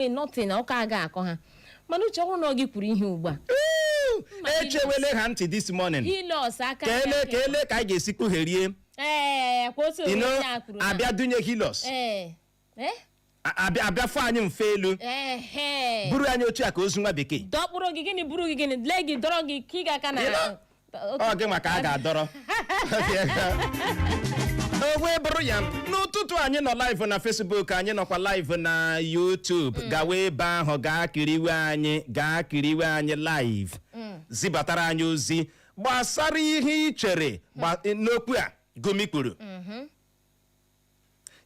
Ee, nothing na ụka a ga-akọ ha mana uche ọhụrụ na ọ gị kwuru ihe ugbu a echewele ha ntị this morning ile ọsọ aka ka ele ka ele ka anyị ga-esi kpugherie ee kwa otu you know, onye a kwuru na- abịa dunye Hilux ee eh? abịa abịa fụ anyị mfe elu Ehe. buru anyị otu a ka ozu nwa bekee dọkpụrụ gị gịnị buru gị gịnị lee gị dọrọ gị ka ị ga-aka na You know, ọ gị maka a ga-adọrọ wee buru ya n'ụtụtụ anyị nọ live na Facebook anyị nọkwa live na YouTube gawa ebe ahụ gaa kiriwe anyị gaa kiriwe anyị live zibatara anyị ozi gbasara ihe ị chere gba- n'okwu a Gumi kwuru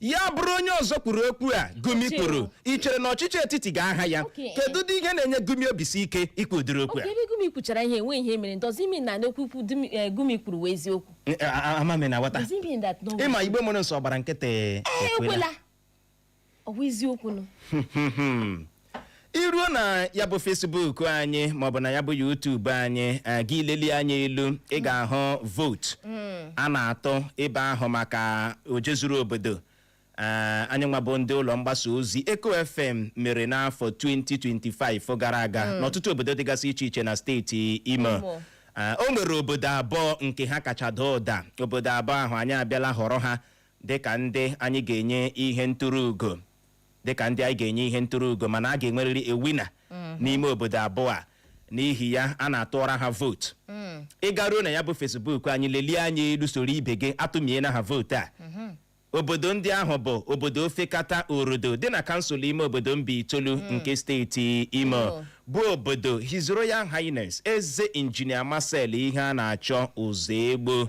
ya bụrụ onye ọzọ kwuru okwu a gumi Ọchịchị. kwuru i chere na ọchịchị etiti ga-aha ya Okay. kedu ụdị ihe na-enye gumi obisi ike ikwu ụdịrị okwu a okay ebe gumi kwuchara ihe enwe ihe mere does it mean na n'okwu ikwu Dumi- eh, gumi kwuru wụ eziokwu Eh, a- a- ama m na aghọta does it mean that no ịma igbo mụrụ nsọ gbara nkịtị Eh, ekwela ọ wụ eziokwu nụ i ruo na ya bụ Facebook anyị maọbụ na ya bụ YouTube anyị eh, gị lelie anya elu ị ga-ahụ vootu a na-atụ ebe ahụ maka ojezuru obodo Eh, anyị nwa bụ ndị ụlọ mgbasa ozi Eko FM mere n'afọ 2025 gara aga n'ọtụtụ obodo dịgasị iche iche na steeti Imo Imo. Eh, o nwere obodo abụọ nke ha kacha daa ụda obodo abụọ ahụ anyị abịala họrọ ha dịka ndị anyị ga-enye ihe nturu ugo dịka ndị anyị ga-enye ihe nturu ugo mana a ga-enwerịrị a winner n'ime obodo abụọ a n'ihi ya a na-atụọra ha vootu ị garuo na ya bụ Facebook anyị lelie anya elu soro ibe gị atụmiela ha vootu a obodo ndị ahụ bụ obodo Ofekata Orodo dị na kansụl ime obodo Mbaitoli nke steeti imo Imo. bụ obodo his royal highness eze injinia Marcel Iheanachọ Ụzọegbo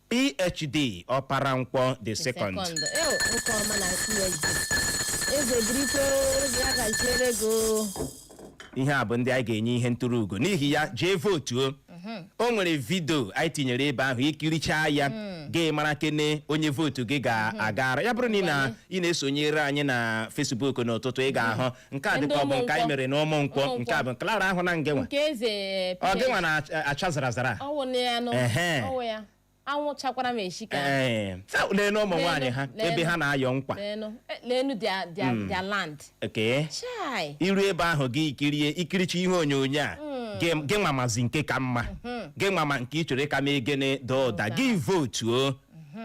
PhD Ọpara Nkwọ the second Second. Ew, nwoke ọma na PhD. Eze birikwe ozi a gaziere gị o. ihe a bụ ndị anyị ga-enye ihe nturu ugo n'ihi ya jee vootuo o nwere vidio anyị tinyere ebe ahụ i kirichaa ya gị mara kene onye vootu gị ga-agara ya bụrụ na ị na- ị na-esonyere anyị na Facebook n'ụtụtụ ị ga-ahụ nke a Ndị dịka ọ bụ nke anyị Ụmụnkwọ. mere n'Ụmụnkwọ Ụmụnkwọ. nke a bụ Clara ahụ na nge nwa nke eze eh, ọ gị Peter nwa na-acha zara zara ọ wụ na ya nụ Ehe. ọ wụ ya anwụ chakwara m eshika ee leenụ ụmụ nwaanyị ha Leenụ, ebe leenụ. ha na-ayọ nkwa leenụ eh, leenụ their- their- their land okay chai i ruo ebe ahụ gị kirie i kirichaa ihe onyonyo a gị gị nwa mazi nke ka mma gị nwa ma nke ị chọrọ ka mee gịnị daa ụda gị votuo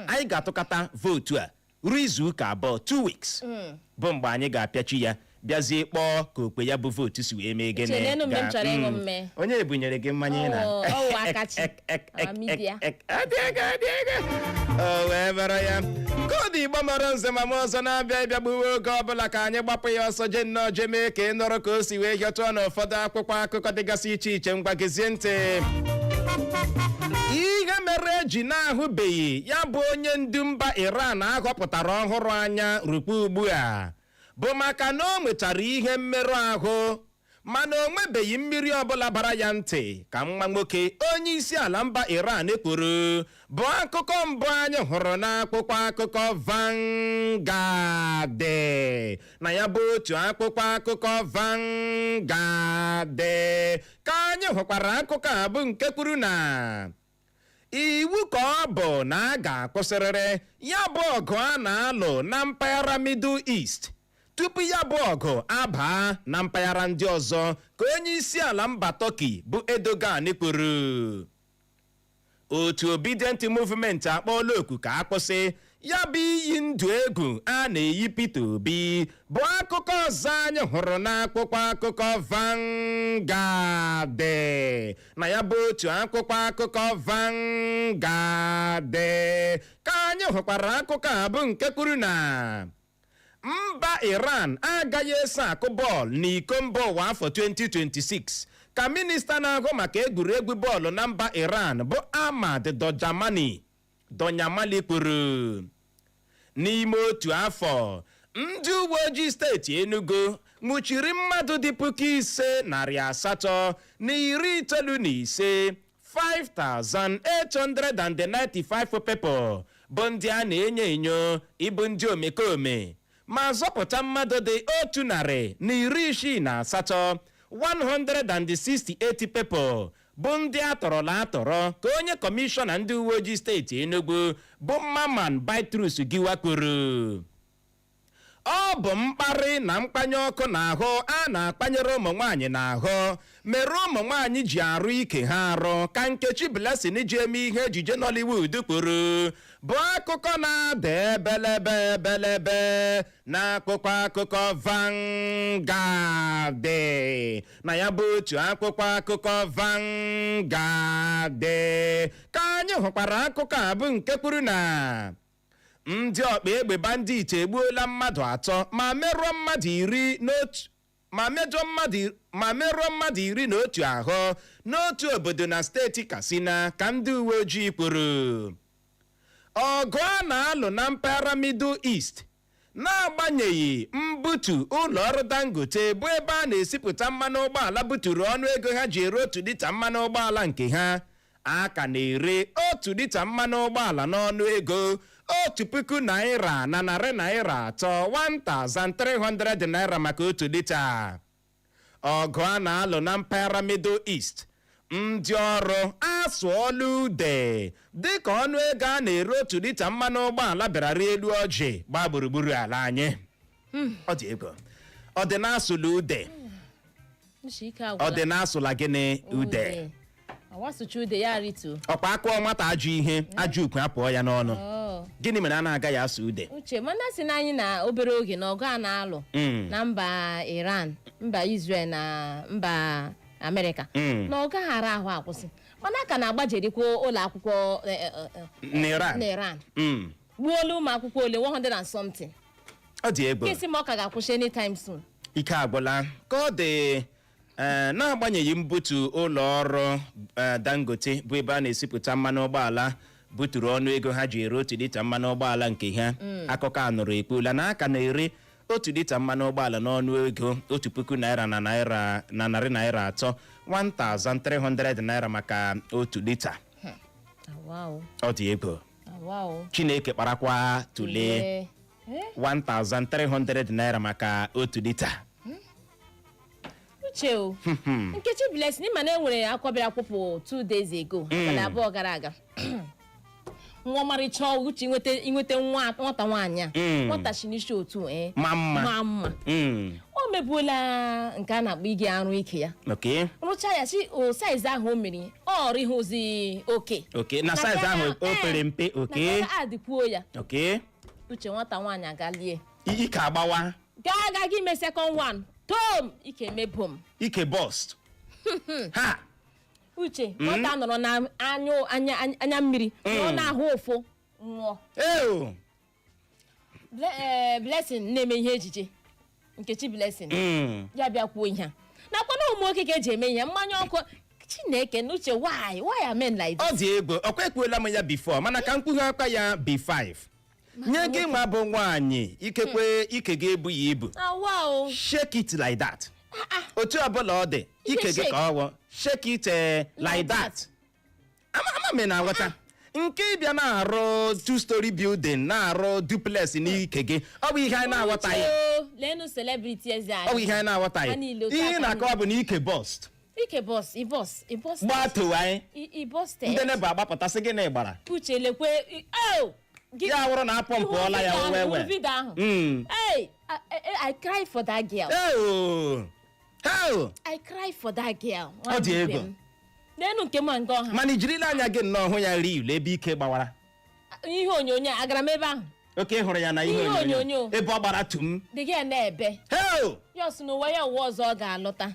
anyị ga-atụkọta vootu a ruo izu ụka abụọ two weeks hmm. bụ mgbe anyị ga-apịachi ya bịazie kpọọ ka okpe ya bụ vootu si wee mee gịnị hmm. onye e bunyere gị mmanya ị na o wee bara ya koodu igbo mara nze ma m ọzọ na-abịa ịbịa gbuwe oge ọbụla ka anyị gbapụ ya ọsọ je nnọọ je mee ka ị nụrụ ka o si wee hịọtụọ n'ụfọdụ akwụkwọ akụkọ dịgasị iche iche ngwa gezie ntị ihe mere e ji na-ahụbeghị ya bụ onye ndu mba Iran a họpụtara ọhụrụ anya rukwa ugbu a bụ maka na o nwechara ihe mmerụ ahụ mana o nwebeghị mmiri ọbụla bara ya ntị ka nwa nwoke onye isi ala mba Iran kwuru bụ akụkọ mbụ anyị hụrụ n'akwụkwọ akụkọ Vanguard na ya bụ otu akwụkwọ akụkọ Vanguard ka anyị hụkwara akụkọ a bụ nke kwuru na iwu ka ọ bụ na a ga-akwụsịrịrị ya bụ ọgụ a na-alụ na mpaghara Middle East tupu ya bụ ọgụ abaa na mpaghara ndị ọzọ ka onye isi ala mba Turkey bụ Erdogan kwuru otu Obidient Movement akpọọla oku ka a kwụsị ya bụ iyi ndụ egwu a na-eyi Peter Obi bụ akụkọ ọzọ anyị hụrụ n'akwụkwọ akụkọ Vanguard na ya bụ otu akwụkwọ akụkọ Vanguard ka anyị hụkwara akụkọ a bụ nke kwuru na mba Iran agaghị eso akụ bọọlụ n'iko mba ụwa afọ 2026 ka minista na-ahụ maka egwuregwu bọọlụ na mba Iran bụ Ahmad Dojamani Donyamali kwuru n'ime otu afọ ndị uwe ojii steeti Enugu nwụchiri mmadụ dị puku ise narị asatọ na iri itoolu na ise 5,895 people bụ ndị a na-enyo enyo ịbụ ndị omekome ma zọpụta mmadụ dị otu narị na iri isii na asatọ 168 people bụ ndị a tọrọla atọrọ ka onye kọmishọna ndị uwe ojii steeti Enugu bụ Mamman Bitrus Giwa kwuru ọ bụ mkparị na mkpanye ọkụ n'ahụ a na-akpanyere ụmụ nwaanyị n'ahụ mere ụmụ nwaanyị ji arụ ike ha arụ ka Nkechi Blessing ji eme ihe ejije Nollywood kwuru bụ akụkọ na-ada ebelebe ebelebe n'akwụkwọ akụkọ Vanguard na ya bụ otu akwụkwọ akụkọ Vanguard ka anyị hụkwara akụkọ a bụ nke kwuru na ndị ọkpa egbe bandit egbuola mmadụ atọ ma merụọ mmadụ iri na otu ahụ n'otu obodo na steeti Katsina ka ndị uwe ojii kwuru ọgụ a na-alụ na mpaghara Middle East n'agbanyeghị mbutu ụlọ ọrụ Dangote bụ ebe a na-esipụta mmanụ ụgbọala buturu ọnụ ego ha ji ere otu lita mmanụ ụgbọala nke ha a ka na-ere otu lita mmanụ ụgbọala n'ọnụ ego otu puku naira na narị naira atọ 1300 naira maka otu lita ọgụ a na-alụ na mpaghara Middle East ndị ọrụ asụọla ude dịka ọnụ ego a na-ere otu lita mmanụ ụgbọala bịara rịa elu ọjị gbaa gburugburu ala anyị ọ dị egwu ọ dị na-asụla ude Uche ike agwụla. ọ dị na-asụla gịnị ude Ude. asụcha ude ya rituo ọkwa a kụọ nwata ajọ ihe ajọ okwu apụọ ya n'ọnụ Oh. gịnị mere ha na-agaghị asụ ude uche mana a sịnụ anyị na obere oge na ọgụ a na-alụ Mm. na mba iran mba israel na mba amerịka Mm. na ọ gaghị ara ahụ akwụsị mana a ka na-agbajerikwa ụlọ akwụkwọ eh, eh, eh, eh, n'iran na iran Mm. gbuola ụmụ akwụkwọ ole 100 and something ọ dị egwu kesi ma ọ ka ga-akwụsị anytime soon ike agwụla ka ọ dị ee n'agbanyeghị mbutu ụlọ ọrụ ee, dangote bụ ebe a na-esipụta mmanụ ụgbọala buturu ọnụ ego ha ji ere otu lita mmanụ ụgbọala nke ha akụkọ a nụrụ ekwuola na a ka na-ere otu lita mmanụ ụgbọala n'ọnụ ego otu puku naira na narị naira atọ 1300 naira maka otu lita Wow. ọ dị egwu Wow. chineke kparakwa tụlee Ee. 1300 naira maka otu lita uche o Hmm, hmm. nkechi blessing ị ma na e nwere akwa ọ bịara kwụpụ two days ago abalị abụọ gara aga nwa ọmarịcha ọgwụ uche inweta inweta nwa nwata nwaanyị a Mm. nwata si n'isi otu ee ma mma ma mma Mm, o mebuola nke a na-akpọ ịga arụ ike ya okay rụcha ya sị o size ahụ o mere ọ rịhụzi oke okay na size ahụ o Eh, pere mpe okay na adịkwuo ya okay uche nwata nwaanyị agalie ike agbawa gaa ịga ime second one tom ike mee boom ike burst ha uche nwata nọrọ na anya mmiri nọrọ n'ahụ ụfụ nwụọ eo Ble- eh, blessing na-eme ihe ejije nkechi blessing Mm. ya bịa kwuo ihe a nakwa na ụmụ nwoke ka e ji eme ihe mmanya ọkụ chineke na uche why why are men like this? ọ dị egwu ọkwa ekwuola m ya before mana ka m kpughe akwa ya b5 nye gị nwa bụ nwaanyị ikekwe ike gị ebughị ibu awa o shake it like that otu ọbụla ọ dị ike gị shake. ka ọ wụ shake it eh, like that ama ama m ị na-aghọta nke ịbịa na-arụ two story building na-arụ duplex n'ike gị ọ bụ ihe anyị na-aghọtaghị Uche o, leenụ celebrity eze anyị ọ bụ ihe anyị Ha na-aghọtaghị niile otu ihe a ka na-akọwa bụ na ike burst ike burst e burst e burst gbaa towe anyị e burst ndị neighbour agbapụta sị gịnị gbara uche lekwe i- oh, gị- ya wụrụ na a pọmpụọla ya Ị hụwe video ahụ, ị hụwe video ahụ. Mm. Hey, I, I, I cry for that girl. Eo! Eo! I cry for that girl. Ọ dị egwu. N'enu nke ma nke ọha. mana i jirila anya gị nnọọ hụ ya real ebe ike gbawara Ihe onyonyo a, agara m ebe ahụ. oke hụrụ ya na ihe Ihe onyonyo onyonyo. ebe ọ gbara tum The girl na-ebe. heo Ya ọ sị n'ụwa ya ụwa ọzọ ọ ga-alọta.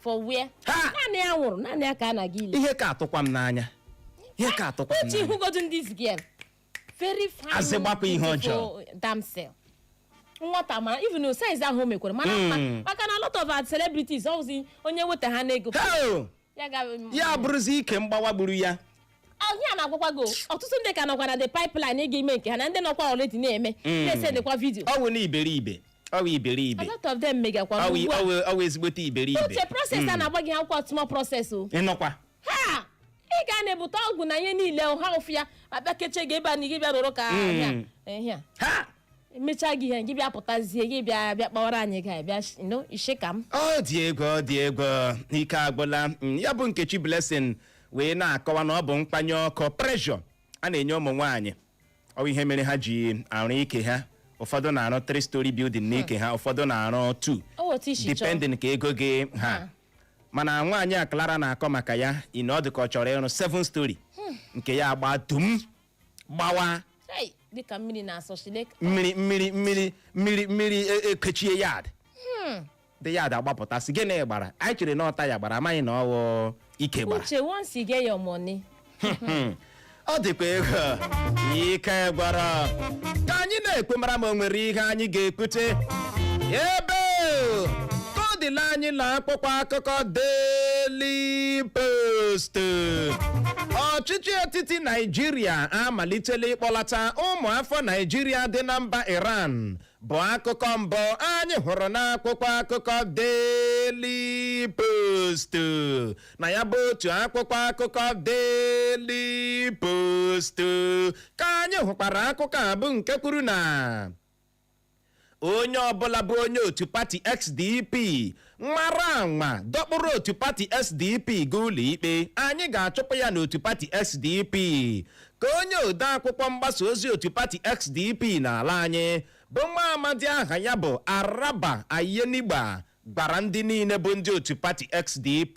for where Ha! naanị ya nwụrụ naanị ya ka a na-aga ili ihe ka atụkwa m n'anya ihe ka atụkwa m uche n'anya ị hụgodu this girl very fine Azị gbakwa ihe beautiful ọjọọ. damsel nwata mara even size ahụ o mekwara mara mma Mm. maka na a lot of our celebrities ọ wụzi onye weta ha n'ego Heo! ya ga ya bụrụzi ike mgbawa gburu ya ihe a a na-agwakwa gị o, ọtụtụ ndị ka nọkwa na the pipeline ịga ime nke ha na ndị nọkwa already na-eme Mm. na-esendịkwa video ọ wụ na iberibe ọ wụ a iberibe lot of them megakwa ọ wụ ugbu a ọ wụ- ọ wụ ezigbote iberibe Uche process a na-agba gị ha akwụkwọ small process o ịnọkwa ha ị ga na-ebute ọgwụ na ihe niile o, ha ụfụ ya abịa kechie gị ebe a na gị bịa rụrụ ka Mm. ahịa ahịa ha emechaa gị ihe gị bịa pụtazie gị bịa bịa kpawara anyị ga bịa sh- no ishe ka m ọ dị egwu ọ dị egwu ike agwụla Mm, ya bụ Nkechi Blessing wee na-akọwa na ọ bụ mkpanye ọkụ pressure a na-enye ụmụ nwaanyị ọ bụ ihe mere ha ji arụ ike ha ụfọdụ na-arụ 3 story building n'ike ha ụfọdụ na-arụ 2 Ọ bụ otu isi chọọ. depending ka ego gị ha Ha. mana nwaanyị a Clara na-akọ maka ya ị na ọ dị ka ọ chọrọ ịrụ 7 story nke ya agba dum gbawa Hey, dịka mmiri na-asọ Chineke mmiri mmiri mmiri mmiri mmiri e- ekechie yard ndị yard agbapụta sị gịnị gbara anyị chere na ọ tyre gbara amaghị na ọ wụ ike gbara uche once you get your money ọ dịkwa egwu ike gwụrụ ka anyị na-ekwu mara ma o nwere ihe anyị ga-ekwute ebe ka ọ dịla anyị na akwụkwọ akụkọ Daily Post ọchịchị etiti naijiria amalitela ịkpọlata ụmụafọ naijiria dị na mba iran bụ akụkọ mbụ anyị hụrụ n'akwụkwọ akụkọ Daily Post na ya bụ otu akwụkwọ akụkọ Daily Post ka anyị hụkwara akụkọ a bụ nke kwuru na onye ọbụla bụ onye otu pati SDP nwara anwa dọkpụrụ otu pati sdp gaa ụlọikpe anyị ga-achụpụ ya n'otu pati sdp ka onye ode akwụkwọ mgbasa ozi otu pati sdp n'ala anyị bụ nwa amadi aha ya bụ araba aiyenigba gwara ndị niile bụ ndị otu pati sdp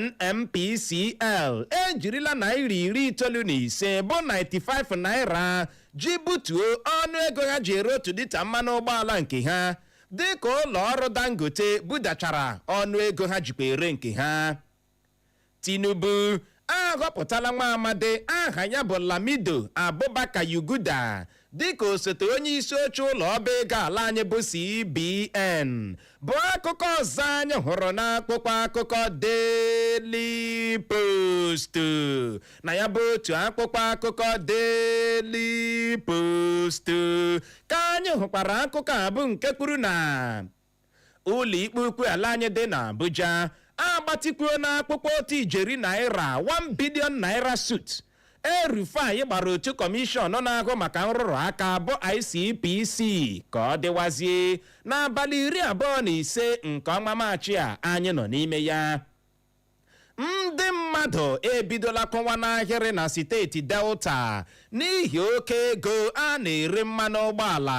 NNPCL ejirila naira iri itoolu na ise bụ 95 naira ji butuo ọnụ ego ha ji ere otu lita mmanụ ụgbọala nke ha dịka ụlọ ọrụ Dangote budachara ọnụ ego ha jikwa ere nke ha Tinubu a họpụtala nwa amadi aha ya bụ lamido abubakar yuguda dịka osote onye isi oche ụlọ ọba ego ala anyị bụ cbn bụ akụkọ ọzọ anyị hụrụ n'akwụkwọ akụkọ daily post na ya bụ otu akwụkwọ akụkọ daily post ka anyị hụkwara akụkọ a bụ nke kwuru na ụlọikpe ukwu ala anyị dị na abuja agbatịkwuola akwụkwọ otu ijeri naira 1 billion naira suit el-rufai gbara otu kọmishọn na-ahụ maka nrụrụ aka bụ icpc ka ọ dịwazie n'abalị iri abụọ na ise nke ọnwa maachị a anyị nọ n'ime ya ndị mmadụ ebidola kwụwa n'ahịrị na steeti delta n'ihi oke ego a na-ere mmanụ ụgbọala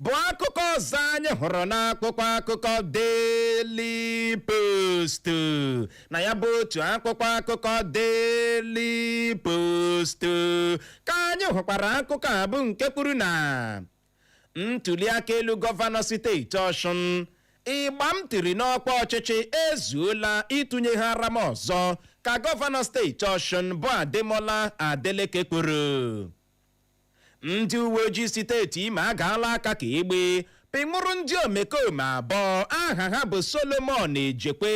bụ akụkọ ọzọ anyị hụrụ n'akwụkwọ akụkọ Daily Post na ya bụ otu akwụkwọ akụkọ Daily Post ka anyị hụkwara akụkọ a bụ nke kwuru na ntuliaka elu gọvanọ steeti ọshụn ịgba m tiri n'ọkwa ọchịchị ezuola ịtụnyeghara m ọzọ ka gọvanọ steeti ọshụn bụ ademola adeleke kwuru ndị uwe ojii steeti imo agaala aka ka egbe pịnwụrụ ndị omekome abụọ aha ha bụ solomon ejekwe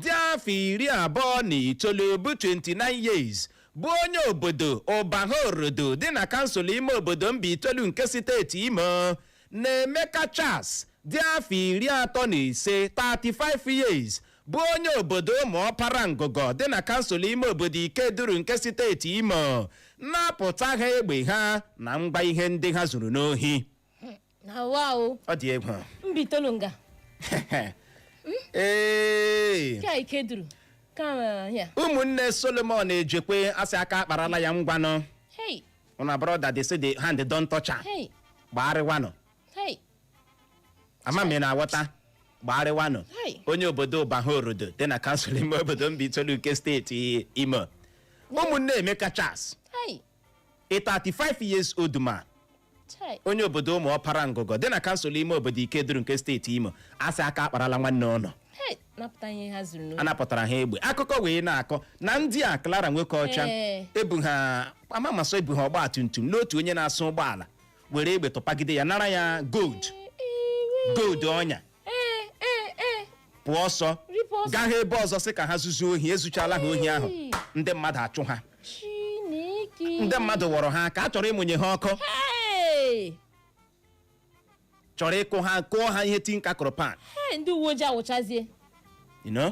dị afọ iri abụọ na itoolu bụ 29 years bụ onye obodo ụbaha orodo dị na kansụl ime obodo mbaitolu nke steeti imo na emeka charles dị afọ iri atọ na ise 35 years bụ onye obodo ụmụọpara ngụgọ dị na kansụl ime obodo ikeduru nke steeti imo napụta ha egbe ha na ngwa ihe ndị ha zuru n'ohi na wa o ọ dị egwu mbaitolu nga ee ka ikeduru ka eh, ya ụmụnne solomon ejekwe a sị aka akparala ya ngwanụ hey una brother they say the hand don touch am hey gbagharịwanụ hey ama m ị na-aghọta gbagharịwanụ Hai. onye obodo ụbaha orodo dị na kansụl ime obodo mbaitolu nke steeti imo ụmụnne emeka charles hey a 35 years old man Chai. onye obodo ụmụ ọpara ngugo dị na kansụl ime obodo ikeduru nke steeti imo a sị aka akparala nwanne ụnụ Hey, napụta ihe ha zuru n'ohi. anapụtara ha egbe akụkọ wee na-akọ na ndị a Clara nwoke ọcha Ee. ebu ha amamasọ ebu ha ọgba tum tum n'otu onye na-asụ ụgbọala were egbe tụpagide ya nara ya gold gold ọnya ee ee ee pụọ ọsọ ripụ ọsọ gaa ha ebe ọzọ sị ka ha zuzuo ohi ezuchala ha ohi ahụ Hey. ndị mmadụ achụ ha chineke ndị mmadụ wọrọ ha ka a chọrọ ịmụnye ha ọkụ Hey! chọrọ ịkụ ha kụọ ha ihe tinka kụrụ pan Hey, ndị uwe ojii awụchazie you know?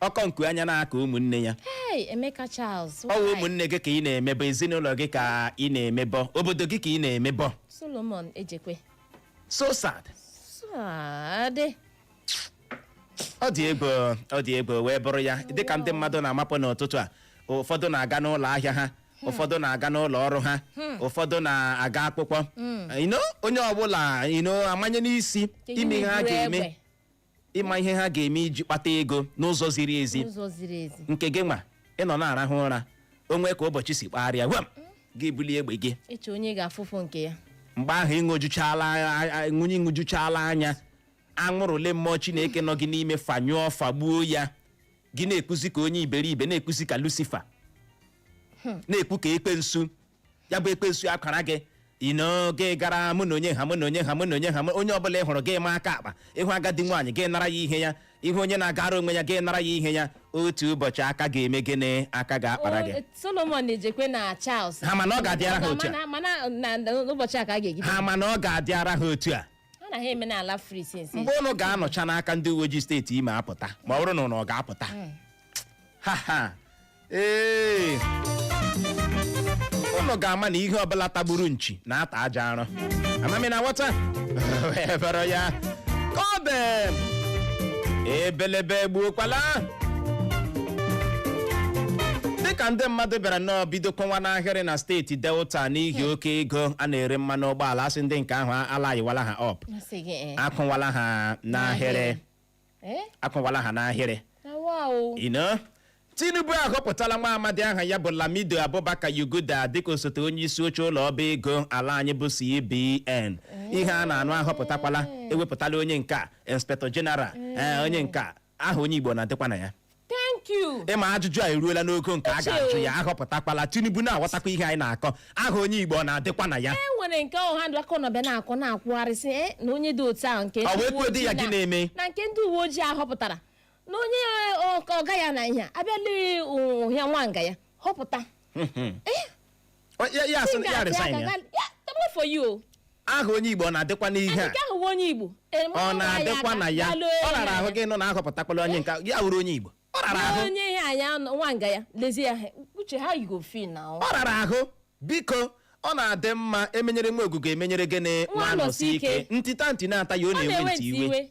ọkọ nku anya n'aka ụmụnne ya Hey, Emeka Charles. ọ wụ why? ụmụnne gị ka ị na-emebọ ezinụlọ gị ka ị na-emebọ obodo gị ka ị na-emebọ Solomon Ejekwe. so sad sad. ọ dị egwu ọ dị egwu wee bụrụ ya dịka ndị mmadụ na-amapụ n'ụtụtụ a ụfọdụ na-aga n'ụlọ ahịa ha ụfọdụ na-aga n'ụlọ ọrụ ha ụfọdụ na-aga akwụkwọ you know onye ọbụla you know amanye n'isi Ka ịma ihe ha buru ga-eme egbe. ịma ihe ha ga-eme iji kpata ego n'ụzọ ziri ezi n'ụzọ ziri ezi nke gị nwa ị nọ na-arahụ ụra o nwee ka ụbọchị si kpagharịa gwam gị bulie egbe gị eche onye ga-afụfụ nke ya mgbe ahụ ịṅụjuchala a- a- ṅụnye ṅụjuchala anya anwụrụ ole mmụọ chineke nọ gị n'ime fanyụọ fagbuo ya gị na-ekwuzi ka onye iberibe na-ekwuzi ka lucifer na-ekwu ka ekwensu ya bụ ekwensu akwara gị you know gị gara mụ na onye ha mụ na onye ha mụ na onye ha mụ- onye ọbụla ị hụrụ gị ma aka akpa ị hụ agadi nwaanyị gị nara ya ihe ya ị hụ onye na-agara onwe ya gị nara ya ihe ya otu ụbọchị aka ga-eme gịnị aka ga-akpara gị O, solomon ejekwe na charles Ha ma na ọ ga-adịara ha otu a. Mana- mana na- na- n'ụbọchị a ka a ga-ejide ha ma na ọ ga-adịara ha otu a ha na ha eme n'ala free since mgbe ụnụ ga-anọcha n'aka ndị uwe ojii steeti imo apụta ma ọ bụrụ na ụnụ ga-apụta ha ha ee ụnụ ga-ama na ihe ọbụla tagburu nchi na-ata aja arụ amamihe na nghọta wee bụrụ ya ka ọ bụ ebelebe gbuokwala dịka ndị mmadụ bịara nnọọ bido kwụwa n'ahịrị na steeti delta n'ihi oke ego a na-ere mmanụ ụgbọala a sị ndị nke ahụ alaịnwala ha up Asị gị, eh. akwụwala ha n'ahịrị Eh? akwụwala ha n'ahịrị Awa o. you know? tinubu ahọpụtala nwa amadi aha ya bụ lamido abubakar yuguda dịka osote onye isi oche ụlọ ọba ego ala anyị bụ cbn ihe a na-anụ ahọpụtakwala ewepụtala onye nke a inspector general ee onye nke a aha onye igbo ọ na-adịkwa na ya thank you ị ma ajụjụ a eruola n'ogo nke a ga-ajụ ya ahọpụtakwala tinubu na-aghọtakwa ihe anyị na-akọ aha onye igbo ọ na-adịkwa na ya e nwere nke ọha ndụ aka ọnọbịa na-akọ na-ekwugharịsị e na onye dị otu ahụ nke Ọ wee ndị uwe kwuo di ya ojii gị na- na-eme? na nke ndị uwe ojii a họpụtara na onye ọ- ka ọga ya na ihe a abịala ụhịa nwanga ya họpụta Ọ- ya- ya asị na ya resign ya Thank God for you. aha onye igbo ọ na-adịkwa n'ihe a nke ahụ nwa onye igbo eme ọ ọnwa ya na-adịkwa aka, na ya gbalụ ọ rara ya. ahụ gị nọ na ahọpụtakwala onye nke ya wuru onye igbo ọ rara ahụ onye ihe anya nwa nga ya lezie ya he- uche ha yigo fi na ọ ọ rara ahụ biko ọ na-adị mma emenyere nwa Ogwugwu emenyere gịnị Nwanọsike. ntita ntị na-ata ya ọ na-ewe ntị iwe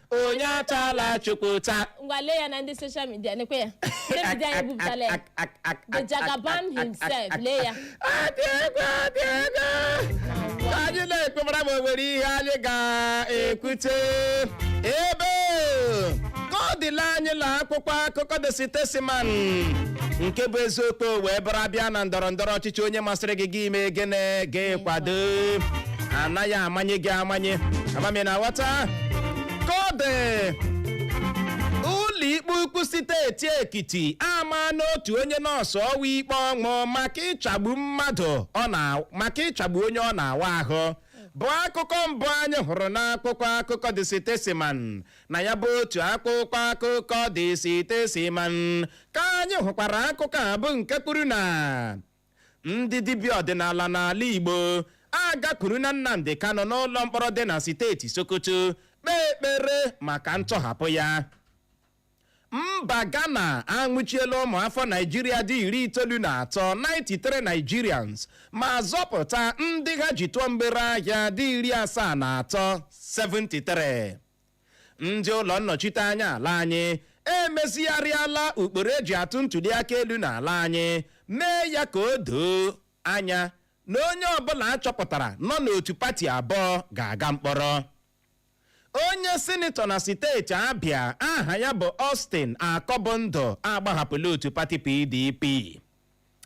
onye atala chukwu ụta ngwa lee ya na ndị soshal midia nekwe ya ndị midia anyị bupụtala ya the jagaban himself lee ya adị ego adị ego ka anyị na-ekpebara ma o nwere ihe anyị ga-ekwute ebe ka ọ dịla anyị na akwụkwọ akụkọ the statesman nke bụ eziokwu wee bụrụ a bịa na ndọrọ ndọrọ ọchịchị onye masịrị gị gị mee gịnị gị kwado anaghị amanye gị amanye ama m ị na-aghọta ka ọ dị ụlọikpe ukwu steeti ekiti amaana otu onye nọọsụ ọwa ikpe ọnwụ maka ịchagbu mmadụ maka ịchagbu onye ọ na-awa ahụ bụ akụkọ mbụ anyị hụrụ n'akwụkwọ akụkọ the statesman na ya bụ otu akwụkwọ akụkọ the statesman ka anyị hụkwara akụkọ a bụ nke kwuru na ndị dibịa ọdịnala n'ala Igbo agakwuruna Nnamdi Kanu n'ụlọ mkpọrọ dị na steeti Sokoto kpee ekpere maka ntọhapụ ya mba Ghana anwụchiela ụmụ afọ Naijiria dị iri itoolu na atọ 93 Nigerians ma zọpụta ndị ha ji tụọ mgbere ahịa dị iri asaa na atọ 73 ndị ụlọ nnọchite anya ala anyị emezigharịala ụkpụrụ eji atụ ntụliaka elu n'ala anyị mee ya ka o doo anya na onye ọbụla achọpụtara nọ n'otu pati abụọ ga-aga mkpọrọ onye sinetọ na steeti abịa aha ya bụ Austin Akọbụndụ agbahapụla otu pati PDP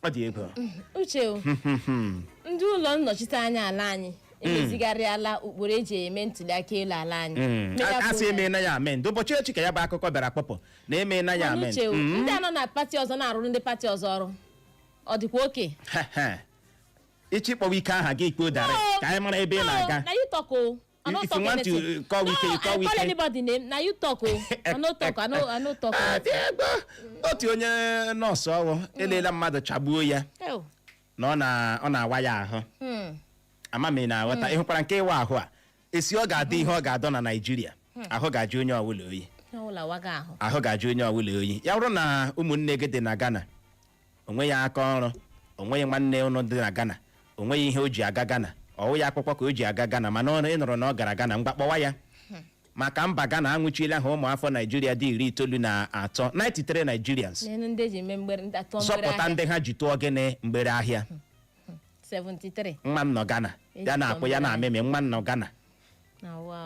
ọ dị egwu uche o ndị ụlọ nnọchiteanya ala anyị emezigharịala ụkpụrụ eji eme ntuliaka elu ala anyị Mm. Mee ya A- ka a sị ụlọ emeela ya amend ụbọchị echi ka ya bụ akụkọ bịara kpọpụ na emeela ya Mana amend uche o, ndị a nọ na pati ọzọ na-arụrụ ndị pati ọzọ ọrụ ọ dịkwa okay ị chọ ịkpọ Wike aha gị kpọọ direct ka anyị mara ebe ị na-aga na ịtọko I no If talk you want to, anything. uh, call no, Wike call I call Wike anybody name. Na you talk o. I no talk. I no I no talk. Ah, dị egbe. otu onye nọọsụ ọrụ elela mmadụ chagbuo ya Ew. na ọ na- ọ na-awa ya ahụ Hmm. ama m ị na-aghọta ị hụkwara nke ịwa ahụ a esi ọ ga-adị ihe ọ ga-adọ na naijiria ahụ ga-ajụ onye ọbụla oyi Ọ wụla waga ahụ. ahụ ga-ajụ onye ọbụla oyi ya bụrụ na ụmụnne gị dị na ghana o nweghị aka ọrụ o nweghị nwanne unu dị na Ghana o nweghị ihe o ji aga Ghana ọ wụghị akwụkwọ ka o ji aga Ghana mana ị nụrụ na ọ gara Ghana ngwa kpọwa ya maka mba Ghana anwụchiela ha ụmụafọ Naijiria dị iri itoolu na atọ 93 Nigerians n'elu ndị e ji mee mgbere ndị atụ mgbere zọpụta ahịa ndị ha ji tụọ gịnị mgbere ahịa 73 nwa m nọ Ghana ya Ejikọ na-akwụ ya mgbere na-amịmị nwa m nọ Ghana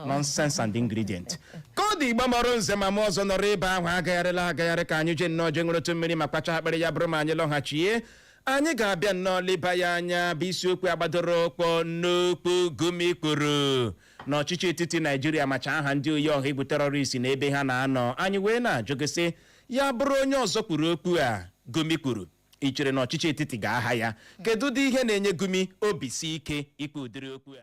nonsense and ingredient ka ọ dị Igbo mụrụ nze ma mụọ ọzọ nọrọ ebe ahụ agagharịla agagharị ka anyị jee nnọọ jee ṅụrụtụ mmiri ma kwacha akpịrị ya bụrụ ma anyị lọghachie anyị ga-abịa nnọọ leba ya anya bụ isiokwu a gbadoro ụkwụ n'okwu gumi kwuru na ọchịchị etiti naijiria macha aha ndị oyi ọha egwu terọrist na ebe ha na-anọ anyị wee na-ajụ gị sị ya bụrụ onye ọzọ kwuru okwu a gumi kwuru i chere na ọchịchị etiti ga-aha ya kedu ụdị ihe na-enye gumi obi si ike ikwu ụdịrị okwu a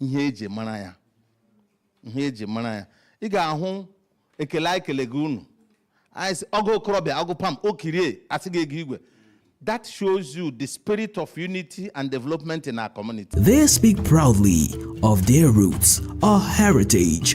ihe eji mara ya ihe eji mara ya ị ga-ahụ ekele anyị kele gị unu anyị sị ọgụ okorobịa ọgụ pam o kirie asị gị ego igwe That shows you the spirit of unity and development in our community. They speak proudly of their roots, our heritage,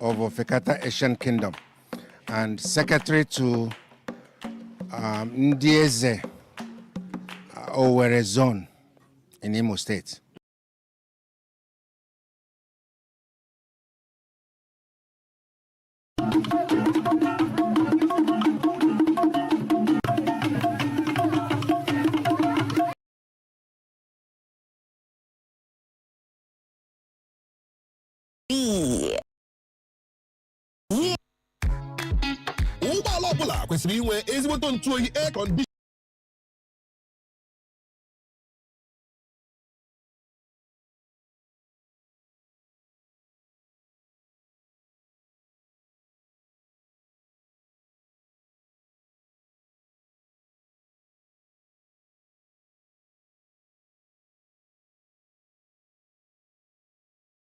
of Ofekata Asian Kingdom and secretary to um, ndị eze uh, Owerri zone in Imo State. ụgbọala ọbụla kwesịrị inwe ezigboto ntụ oyi air condition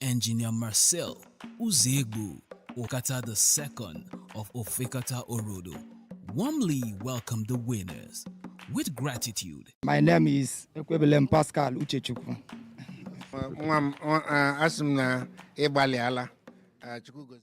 Engineer Marcel Uzegbu Okata the second of Ofekata Orodo warmly welcome the winners with gratitude. My name is Ekwebelem Pascal Uchechukwu. nwa m ọ- a- asị m na ị gbalịala, Chukwu gozie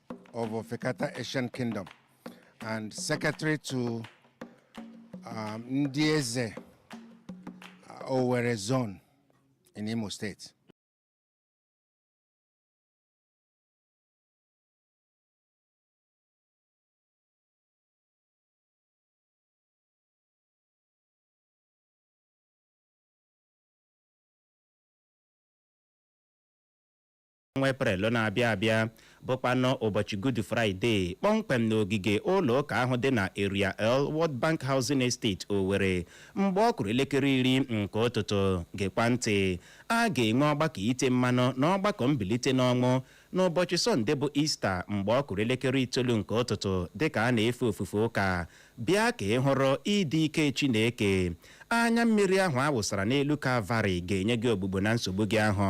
of Ofekata Asian Kingdom and secretary to um, ndị eze uh, Owerri zone in Imo State. ọnwa eprel na-abịa abịa bụkwanụ ụbọchị good friday kpọmkwem n'ogige ụlọ ụka ahụ dị na area l world bank housing estate owere mgbe ọ kụrụ elekere iri nke ụtụtụ gekwa ntị a ga-enwe ọgbakọ ite mmanụ na ọgbakọ mbilite n'ọnwụ n'ụbọchị sọnde bụ easter mgbe ọ kụrụ elekere itoolu nke ụtụtụ dịka a na-efe ofufe ụka bịa ka ị hụrụ ịdị ike chineke anya mmiri ahụ a wụsara n'elu kalvarị ga-enye gị ogbugbo na nsogbu gị ahụ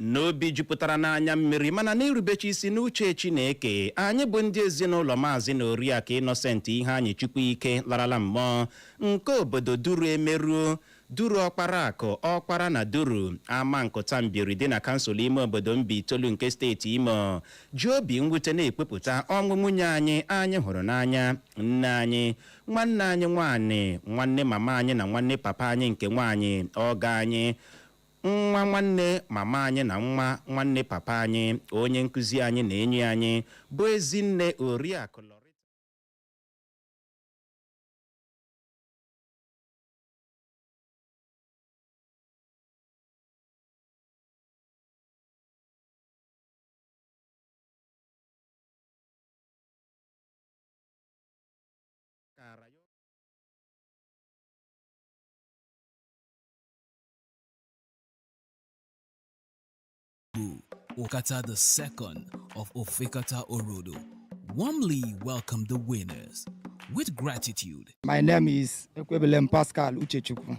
n'obi jupụtara n'anya mmiri mana n'irubechi isi n'uche Chineke anyị bụ ndị ezinụlọ maazị na oriakụ Innocent Iheanyichukwu ike larala mmụọ nke obodo duru emeruo duru ọkpara akụ ọkpara na duru Amankụta Mbieri dị na kansụl ime obodo Mbaitolu nke steeti imo ji obi mwute na-ekwupụta ọnwụ nwunye anyị anyị hụrụ n'anya nne anyị nwanne anyị nwaanyị nwanne mama anyị na nwanne papa anyị nke nwaanyị ọgọ anyị nwa nwanne mama anyị na nwa nwanne papa anyị onye nkụzi anyị na enyi anyị bụ ezinne oriakụ Loretta kara ya Igbo, Okata the second of Ofekata Orodo, warmly welcome the winners with gratitude. My name is Ekwebelem Pascal Uchechukwu.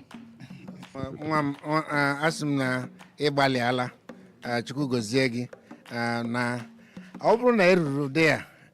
nwa m ọ- a- asị m na ị gbalịala, chukwu gozie gị a, na ọ bụrụ na eruru ụdị ya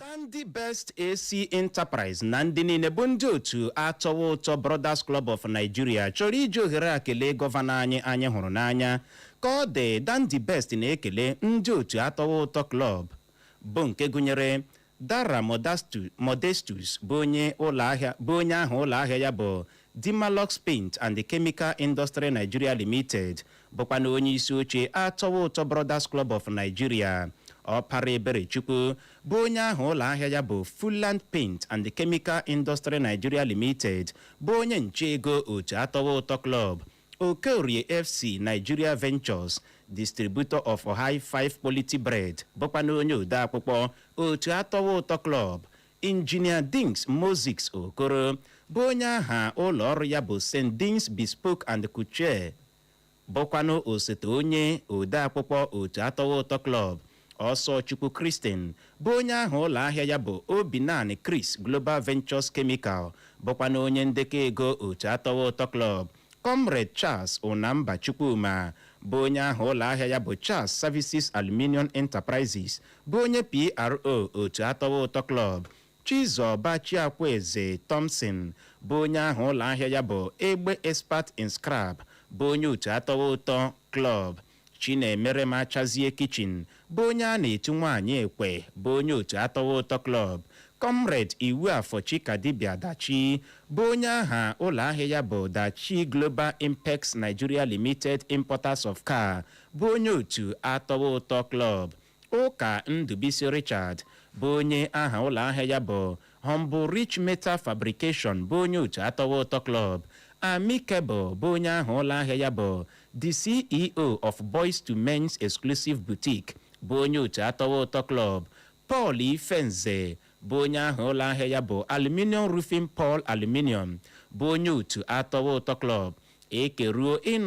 Dandy Best AC Enterprise na ndị niile bụ ndị otu atọwa ụtọ Brothers Club of Nigeria chọrọ iji ohere a kelee gọvanọ anyị anyị hụrụ n'anya ka ọ dị Dandy Best na-ekele ndị otu atọwa ụtọ klọb bụ nke gụnyere Dara Modestus bụ onye aha ụlọ ahịa ya bụ Dimalox Paint and the Chemical Industry Nigeria Limited bụkwanụ onye isi oche Atọwa Ụtọ Brothers Club of Nigeria Ọpara Eberechukwu bụ onye aha ụlọ ahịa ya bụ Fulland Paint and the Chemical Industry Nigeria Limited bụ onye nche ego otu Atọwa Ụtọ Club Okeorie FC Nigeria Ventures Distributor of High Five Quality Bread bụkwanụ onye odeakwụkwọ otu Atọwa Ụtọ Club Injinia Dings Moses Okoro bụ onye aha ụlọ ọrụ ya bụ St. Dings Bespoke and Couture bụkwanụ osote onye odeakwụkwọ otu atọwa ụtọ klọb Ọsọchukwu Christian bụ onye aha ụlọ ahịa ya bụ Obinani Chris global ventures chemical bụkwanụ onye ndekọ ego otu atọwa ụtọ klọb Comrade Charles Unamba Chukwuma bụ onye aha ụlọ ahịa ya bụ Charles Services Aluminium Enterprises bụ onye PRO otu atọwa ụtọ klọb Chizoba Chiakwueze Thompson bụ onye aha ụlọ ahịa ya bụ Egbe Expert in Scrap bụ onye otu atọwa ụtọ klọb Chinemerem Achazie Kitchen bụ onye a na-etu nwaanyị ekwe bụ onye otu Atọwa Ụtọ Club, Comrade Iwuafọ Chikadibia Dachi bụ onye aha ụlọahịa ya bụ Dachi Global Impex Nigeria Limited Importers of Car bụ onye otu Atọwa Ụtọ Club, Ụka Ndubisi Richard bụ onye aha ụlọ ahịa ya bụ Humble Rich Metal Fabrication bụ onye otu Atọwa Ụtọ Club, Amicable bụ onye aha ụlọ ahịa ya bụ The CEO of Boys to Men's Exclusive Boutique bụ onye otu Atọwa Ụtọ Club, Paul Ifenze bụ onye aha ụlọ ahịa ya bụ Aluminium Roofing Paul Aluminium bụ onye otu Atọwa Ụtọ Club ekeruo ịnụ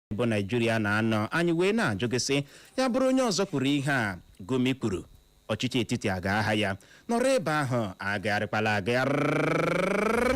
bụ naijiria na-anọ anyị wee na-ajụ gị sị ya bụrụ onye ọzọ kwuru ihe a gumi kwuru ọchịchị etiti a ga-aha ya nọrọ ebe ahụ agagharịkwala agagharị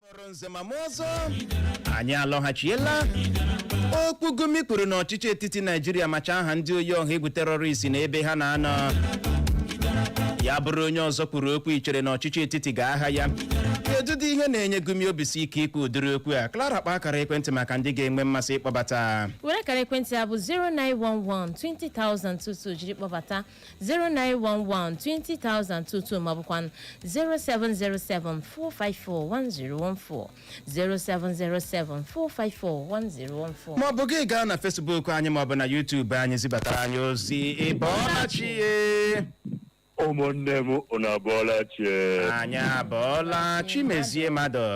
kpọrọ nze ma mụọ ọzọ anyị alọghachiela okwu gumi kwuru na ọchịchị etiti naijiria macha aha ndị oyi ọha egwu terrorist na ebe ha na-anọ ya bụrụ onye ọzọ kwuru okwu i chere na ọchịchị etiti ga-aha ya kedu dị ihe na-enye gumi obisike ikwu ụdịrị okwu a clara kpa akara ekwentị maka ndị ga-enwe mmasị ịkpọbata were akara ekwentị a bụ 091120022 jiri kpọbata 091120022 maọbụkwa 07074541014 07074541014 maọbụ gị gaa na facebook anyị maọbụ na youtube anyị zibatara anyị ozi ị bọọla chi ụmụnne m unu abọọla chi e anyị abọọla chimezie mmadụ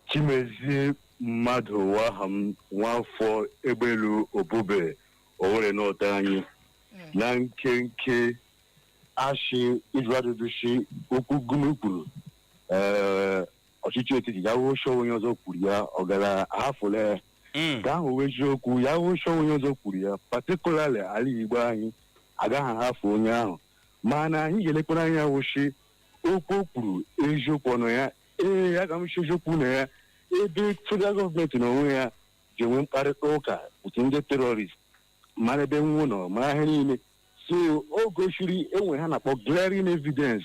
chimezie mmadụ wụ aha m nwafọ egbelu obube owere north anyị na nkenke ashị ịjụ ajụjụ shi okwu gumi kwuru ee ọchịchị etiti ya wụ shi onye ọzọ kwuru ya ọ gara ahafụle Mm. ka ahụ wụ eziokwu ya wụ shi onye ọzọ kwuru ya particularly ala igbo anyị agaghị ahafụ onye ahụ mana anyị ga-elekwara anya wụ shi okwu o kwuru eziokwu ọ nọ ya ee aga m shi eziokwu nọ ya ebe federal government n'onwe ya ji enwe mkparịta ụka otu ndị terrorist mara ebe nwụ nọ mara ihe niile so o gosiri ihe ha na-akpọ glaring evidence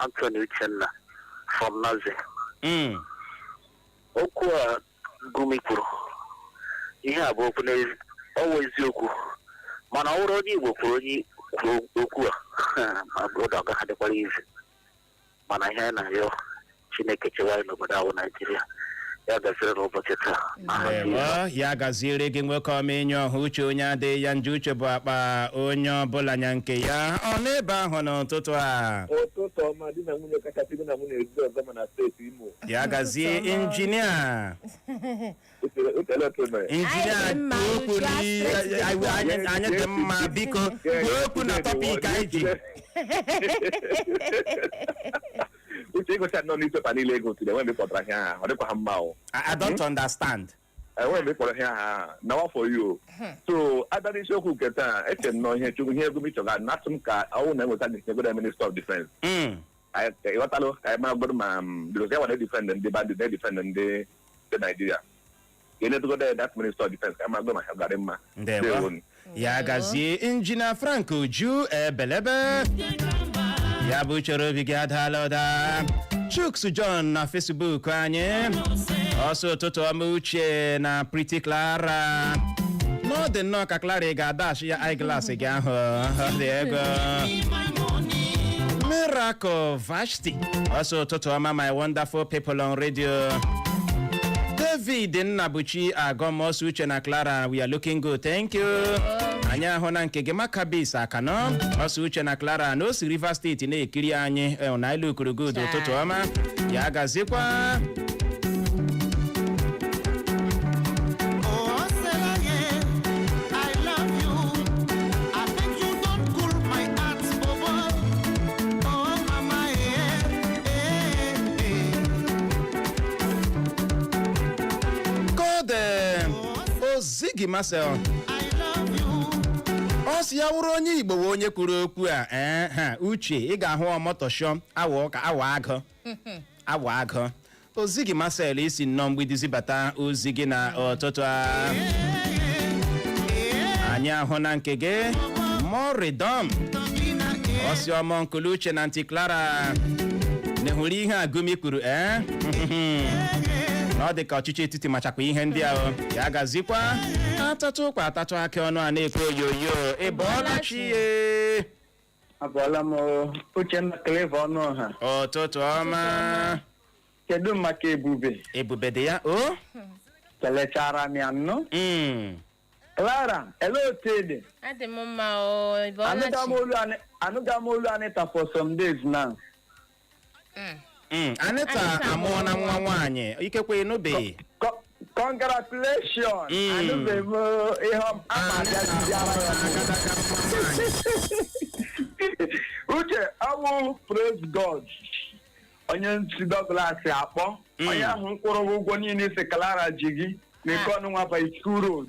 Anthony Uchenna from Naze. Mm. Okwu a Gumi kwuru, ihe a bụ okwu n'ezi- ọ wụ eziokwu. Mana ọ bụrụ onye Igbo kwuru onye kwuru okwu a, ma bụ ụda ọ gaghị adịkwara easy. Mana ihe anyị na-arịọ Chineke chewa anyị n'obodo a wụ Naijiria. ya gaziri n'ụbọchị taa aha Jizọs. ewo ya gaziere gị nwoke ọma inye ọha uche onye adịghị ya njọ uche bụ akpa onye ọbụla nya nke ya ọ n'ebe ahụ n'ụtụtụ a ụtụtụ ọma di na nwunye kachasị di na nwunye ezi ọzọ ma na steeti imo ya gazie injinia ekele oke mere injinia Anyị dị mma, kwuo okwu uju n'ihe- asịrị dị anyị- anyị anyị dị mma biko kwuo okwu na tọpik anyị ji uche ị gụcha na newspaper niile ị gụtụrụ enwe mgbe kpọtara ihe aha ọ dịkwa ha mma o I, I don't understand. enwe mgbe kpọrọ ihe aha na wa for you so a bịa n'isiokwu nke taa eche m na ihe chukwu ihe Gumi chọga na-atụ m ka ọ wụ na enweta gị nyegodo minister of defense Mm. Anyị- ka ị ghọtalụ ka anyị maragodo ma because ya nwa na-edefend ndị bandit na-edefend ndị ndị naijiria ka e nyetụgodo ya that minister of defense ka a magodo ma ha ga-arị mma ndewo Ndewonu. ya gazie injina frank uju ebelebe ya bụ chere obi gị adaala ụda chuks john na facebook anyị ọ sị ụtụtụ ọma uche na pretty clara na ọ dị nnọọ ka clara ị ga-adash ya eyeglass gị ahụ ọ dị ego miracle vash ọ sị ụtụtụ ọma my wonderful people on radio david nnabuchi agọm ọ sị uche na clara we are looking good thank you anyị ahụna nke gị makabis akanọ ọ sị uche na clara na o si rivers state na-ekiri anyị eh, na i lookuru good ụtụtụ ọma ya gazikwa Oh, Selaye, I love you. I think you don cool my heart. Golden Ozigi Marcel ọ sị ya wụrụ onye Igbo wụ onye kwuru okwu a ee ha uche ị ga-ahụ ọmọtọshọ awa ụka awa agụ awa agụ Ozigi Marcel i si nnọọ mgbidi zibata ozi gị na ụtụtụ a anyị ahụna nke gị moridom ọ sị ọmọ nkulu uche na aunty clara na ya hụrụ ihe a Gumi kwuru ee na ọ dị ka ọchịchị etiti machakwa ihe ndị ahụ ya gazikwa a tatụ ụkwa a tatụ akị ọnụ a na-ekwe oyoyo ị bọọla chi ye abụọla m uchenna clever ọnụ ọha ụtụtụ ọma kedu maka ebube ebube dị ya o kelechara m ya nnọọ Mm. clara ele otu ị dị adị m mma o ịbọọla chi anụghị m olu Ani- anụghị m olu anịta for some days now Mm. Mm, anịta Anịta amụọla amụọla. nwa nwaanyị ikekwe ịnụbeghị Co- Congratulations! Mm. Anụbeghị m ihe ọ- a ma abịa n'isi ara ya. Agadaga nwa nwaanyị. Uche awụ praise God onye nsi Douglas akpọ Mm. onye ahụ nkwụrụ ụgwọ niile ị sị Clara ji gị na ike ọnụ nwaba school road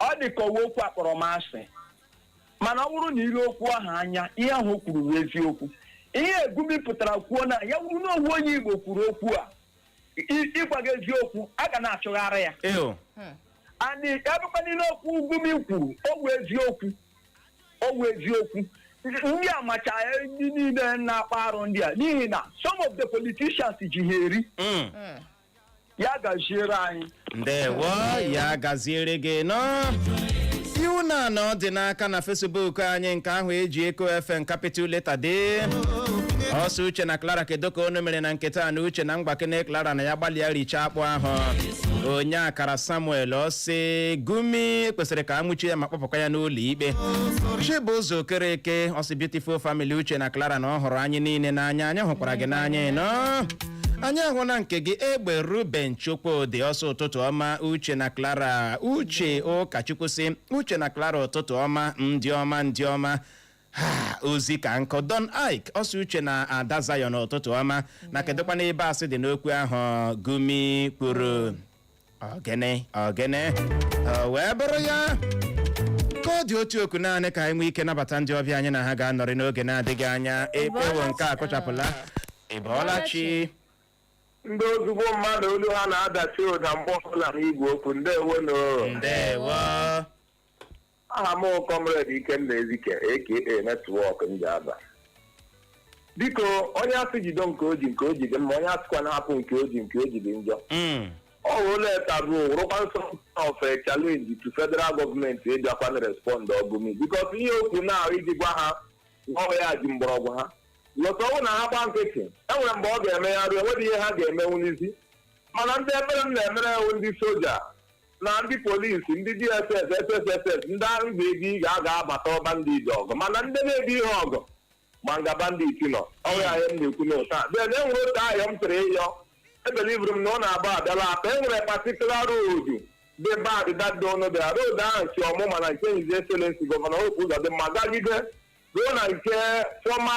ọ dị ka ọ wụ okwu akpọrọmasị mana ọ bụrụ na i lee okwu ahụ anya ihe ahụ o kwuru bụ eziokwu ihe gumi pụtara kwuo na ya wụrụ na ọ wụ onye igbo kwuru okwu a i- ịgwa gị eziokwu a ga na-achụgharị ya o and ebekwa niile okwu gumi kwuru ọ wụ eziokwu ọ wụ eziokwu ndị a macha ndị niile na-akpa arụ ndị a n'ihi na some of the politicians ji ha eri Mm. ya gaziere anyị ndewo ya gaziere gị nnọọ iwunna ọdịnaka na facebook anyị nke ahụ eji eko fm capital letter dee ọ sị uche na clara kedu ka unu mere na nketa na uche na mgbakene clara na ya gbalịa richa akpụ ahụ onye akara samuel ọ sị gumi kwesịrị ka anwụchie ya ma kpọpụkwa ya n'ụlọ ikpe chibụzọ okereke ọ sị beautiful family uche na clara na ọ hụrụ anyị niile n'anya anyị hụkwara gị n'anya nnọọ anyị ahụna nke gị egbe ruben chukwudị ọ sị ụtụtụ ọma uche na clara uche ụkachukwu sị uche na clara ụtụtụ ọma ndị ọma ndị ọma Ha, ozi ka nkụ don ike ọ sị uche na ada zion ụtụtụ ọma na kedụkwanụ ebe asị dị n'okwu ahụ gumi kwuru ogene ogene o wee bụrụ ya ka ọ dị otu oku naanị ka anyị nwee ike nabata ndị ọbịa anyị na ha ga-anọrị n'oge na-adịghị anya ekpewo nke a kụchapụla ịbọọla chi ndị ezigbo mmadụ olu ha na-adachi ụda mgbe ọbụla n'igwe okwu ndewo nụ ndewo aha m comrade ikenna ezike aka network ndị aba biko onye a sị jide nke o ji nke o ji dị mma onye a sịkwanụ hapụ nke o ji nke o ji dị njọ Mm. ọ wụrụla taboo wụrụkwa sort of a challenge to federal government ịbịakwa na respond gumi because ihe okwu na iji gwa ha ọ wụ ya ji mgbọrọgwụ ha lọta ọ wụ na ha gba nkịtị enwere mgbe ọ ga-eme ya ruo enweghị ihe ha ga-emenwuzi mana ndị ebere m na-emere wụ ndị soja na ndị polisi ndị dss sss ndị ahụ bụ ego ị ga-aga abata ọba ndị ije ọgụ mana ndị na-ebu ihe ọgụ ma nga bandit nọ ọrịa ahịa m na-ekwu na ụta then e nwere otu ahịa m chọrọ ịyọ ebelivere m na ọ na-agba abịala Atta e nwere patikula roodu dị bad dadị ọnụ bịara roodu ahụ si Omuma na nke His Excellency gọvanọ Hope Uzodimma gagide ruo na nke fọma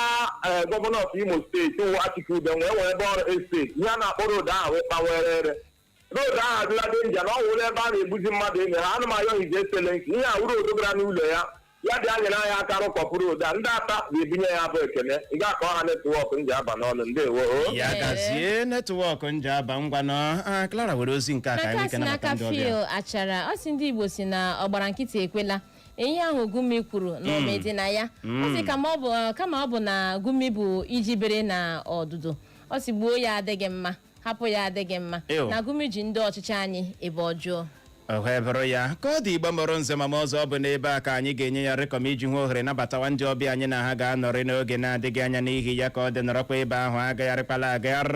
eh, gọvanọ of Imo steeti wụ Achike Udenwa wee ebe ọrụ esteti ihe a na-akpọ roodu ahụ wee kpawere ere road ahụ adịla danger na ọ wụla ebe a na-egbuzi mmadụ enyi ha anọ m ayọ His Excellency ihe wụ roodu gara n'ụlọ ya ya bịa nyere anyị aka rụkọpụ road a ndị Atta ga-ebunye ya bụ ekene ị ga-akọ ha netwọk Njaba n'ọnụ ndewo o ya Ee. gazie netwọk Njaba ngwanụ Ah, Clara were ozi nke a ka anyị maka nwee ike si nabata n'aka ndị ọbịa Phil Achara ọ sị ndị Igbo sị na ọgbara nkịtị ekwela ihe ahụ Gumi kwuru na ome dị na ya ọ sị kama ọ bụ kama ọ bụ na Gumi bụ iji bere na ọdụdụ ọ sị gbuo ya adịghị mma hapụ ya adịghị mma Ew. na Gumi ji ndị ọchịchị anyị ebe ọjọọ ọ bụrụ ya ka ọ dị Igbo mụrụ nze ma mụọ ọzọ ọ bụ n'ebe a ka anyị ga-enye ya rịkọm iji hụ ohere nabatawa ndị ọbịa anyị na ha ga-anọrị n'oge na-adịghị anya n'ihi ya ka ọ dị nọrọkwa ebe ahụ agagharịkwala agagharị